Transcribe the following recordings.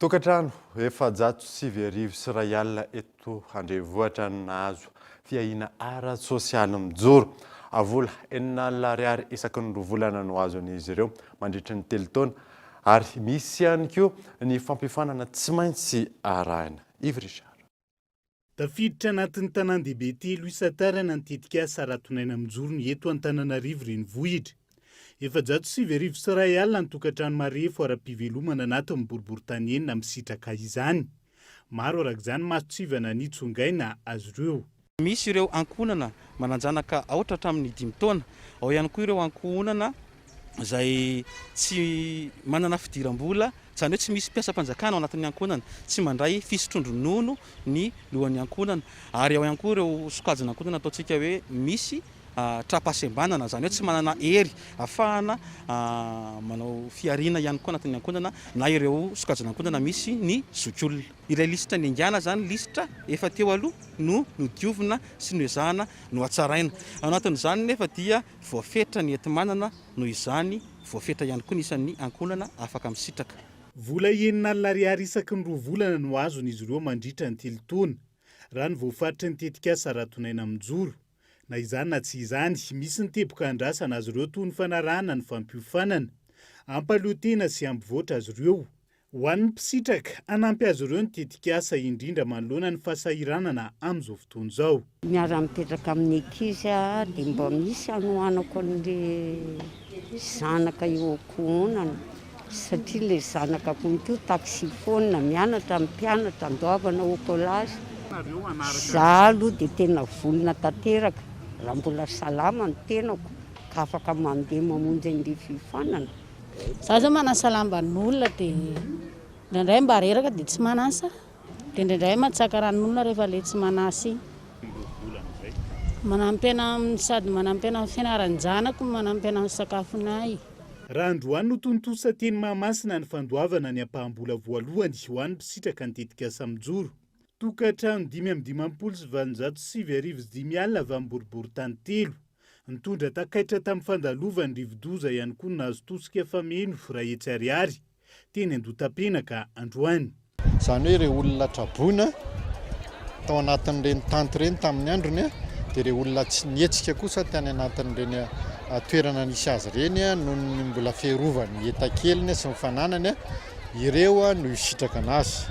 Tokantrano efajato sivy arivo sy iray alina eto Andrevohitra no nahazo fiahiana ara-tsosialy mijoro. Vola enina alina ariary isaky ny roa volana no azon'izy ireo mandritry ny telo taona ary misy ihany koa ny fampifanana tsy maintsy arahina. Yves Richard. Tafiditra anatin'ny tanàn-dehibe telo isan-tarana ny tetikasa Ratonaina Mijoro ny eto Antananarivo Renivohitra. Efajato sy sivy arivo sy iray alina ny tokantrano marefo ara-pivelomana anatin'ny boriborintany enina misitraka izany. Maro araka izany mason-tsivana nitsongaina azy ireo. Misy ireo ankohonana manan-janaka aotra hatramin'ny dimy taona. Ao ihany koa ireo ankohonana izay tsy manana fidiram-bola, izany hoe tsy misy mpiasam-panjakana ao anatin'ny ankohonana, tsy mandray fisotroan-dronono ny lohan'ny ankohonana, ary ao ihany koa ireo sokajin'ankohonana ataontsika hoe misy tra-pahasembanana, izany hoe tsy manana hery ahafahana manao fihariana ihany koa anatin'ny ankohonana, na ireo sokajin'ankohonana misy ny zokiolona. Ilay lisitra niaingàna izany, lisitra efa teo aloha, no nodiovina sy noezahana nohatsaraina. Ao anatin'izany nefa dia voafetra ny enti-manana, noho izany voafetra ihany koa ny isan'ny ankohonana afaka misitraka. Vola enina alina ariary isaky ny roa volana no azon'izy ireo mandritra ny telo taona, raha ny voafaritry ny tetikasa Ratonaina Mijoro. Na izany na tsy izany, misy ny teboka andrasana azy ireo toy ny fanarahana ny fampiofanana, hampahaleotena sy hampivoatra azy ireo. Ho an'ny mpisitraka, hanampy azy ireo ny tetikasa, indrindra manoloana ny fahasahiranana amin'izao fotoana izao. Miara-mipetraka amin'ny ankizy aho dia mba misy anohanako an'ilay. Zanaka eo ankohonana satria le zanaka koa to taxi phone mianatra amin'ny mpianatra andoavana au collage za aloha de tena vonona tanteraka raha mbola salama ny tenako ka afaka mandeha mamonjy an'i ry fifanana Za zao manasalamban'olona de indraindray mba reraka de tsy manasa Dia indraindray mantsaka ranon'olona rehefa ilay tsy manasa iny. Manampy anah amin'ny sady manampy anah amin'ny fianaran-janako no manampy anah amin'ny sakafonay. Raha androany no tontosa teny Mahamasina ny fandoavana ny ampaham-bola voalohany ho an'ny mpisitraka ny tetikasa mijoro. Tokantrano dimy amby dimampolo sy valonjato sy sivy arivo sy dimy alina avy amin'ny boriborintany telo. Nitondra takaitra tamin'ny fandalovan'ny rivodoza ihany koa ny nahazo tosika fameno iray hetsy ariary. teny Andotapenaka androany. Izany hoe ireo olona traboina tao anatin'ireny tanty ireny tamin'ny androny dia ireo olona tsy nihetsika kosa tany anatin'ireny toerana nisy azy ireny noho ny mbola fiarovany hetakeliny sy ny fananany ireo no hisitraka anazy.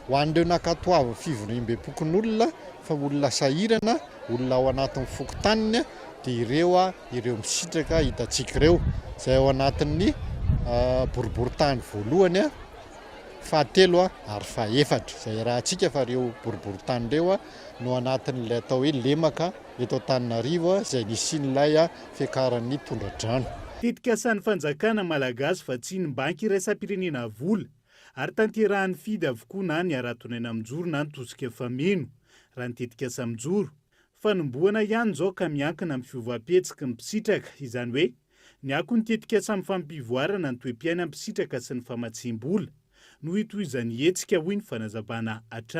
Ho an'ireo nankatoavin'ny fivoriambem-pokonolona fa olona sahirana, olona ao anatin'ny fokontaniny dia ireo Ireo misitraka hitantsika ireo, izay ao anatin'ny boriborintany voalohany, fahatelo ary fahefatra, izay arahantsika fa ireo boriborintany ireo no anatin'ilay atao hoe lemaka eto Antananarivo, izay nisian'ilay fiakaran'ny tondra-drano. Tetikasan'ny fanjakana Malagasy fa tsy ny banky iraisam-pirenena vola ary tanterahan'ny Fidy avokoa na ny Haraton'aina mijoro na ny Tosika efa mino, raha ny tetikasa mijoro, Fanombohana ihany izao ka miankina amin'ny fiovam-pihetsiky ny mpisitraka, izany hoe ny ako ny tetikasa amin'ny fampivoarana ny toe-piainan'ny mpisitraka sy ny famatsiam-bola, no hitohizan'ny hetsika, hoy ny fanazavana hatrany.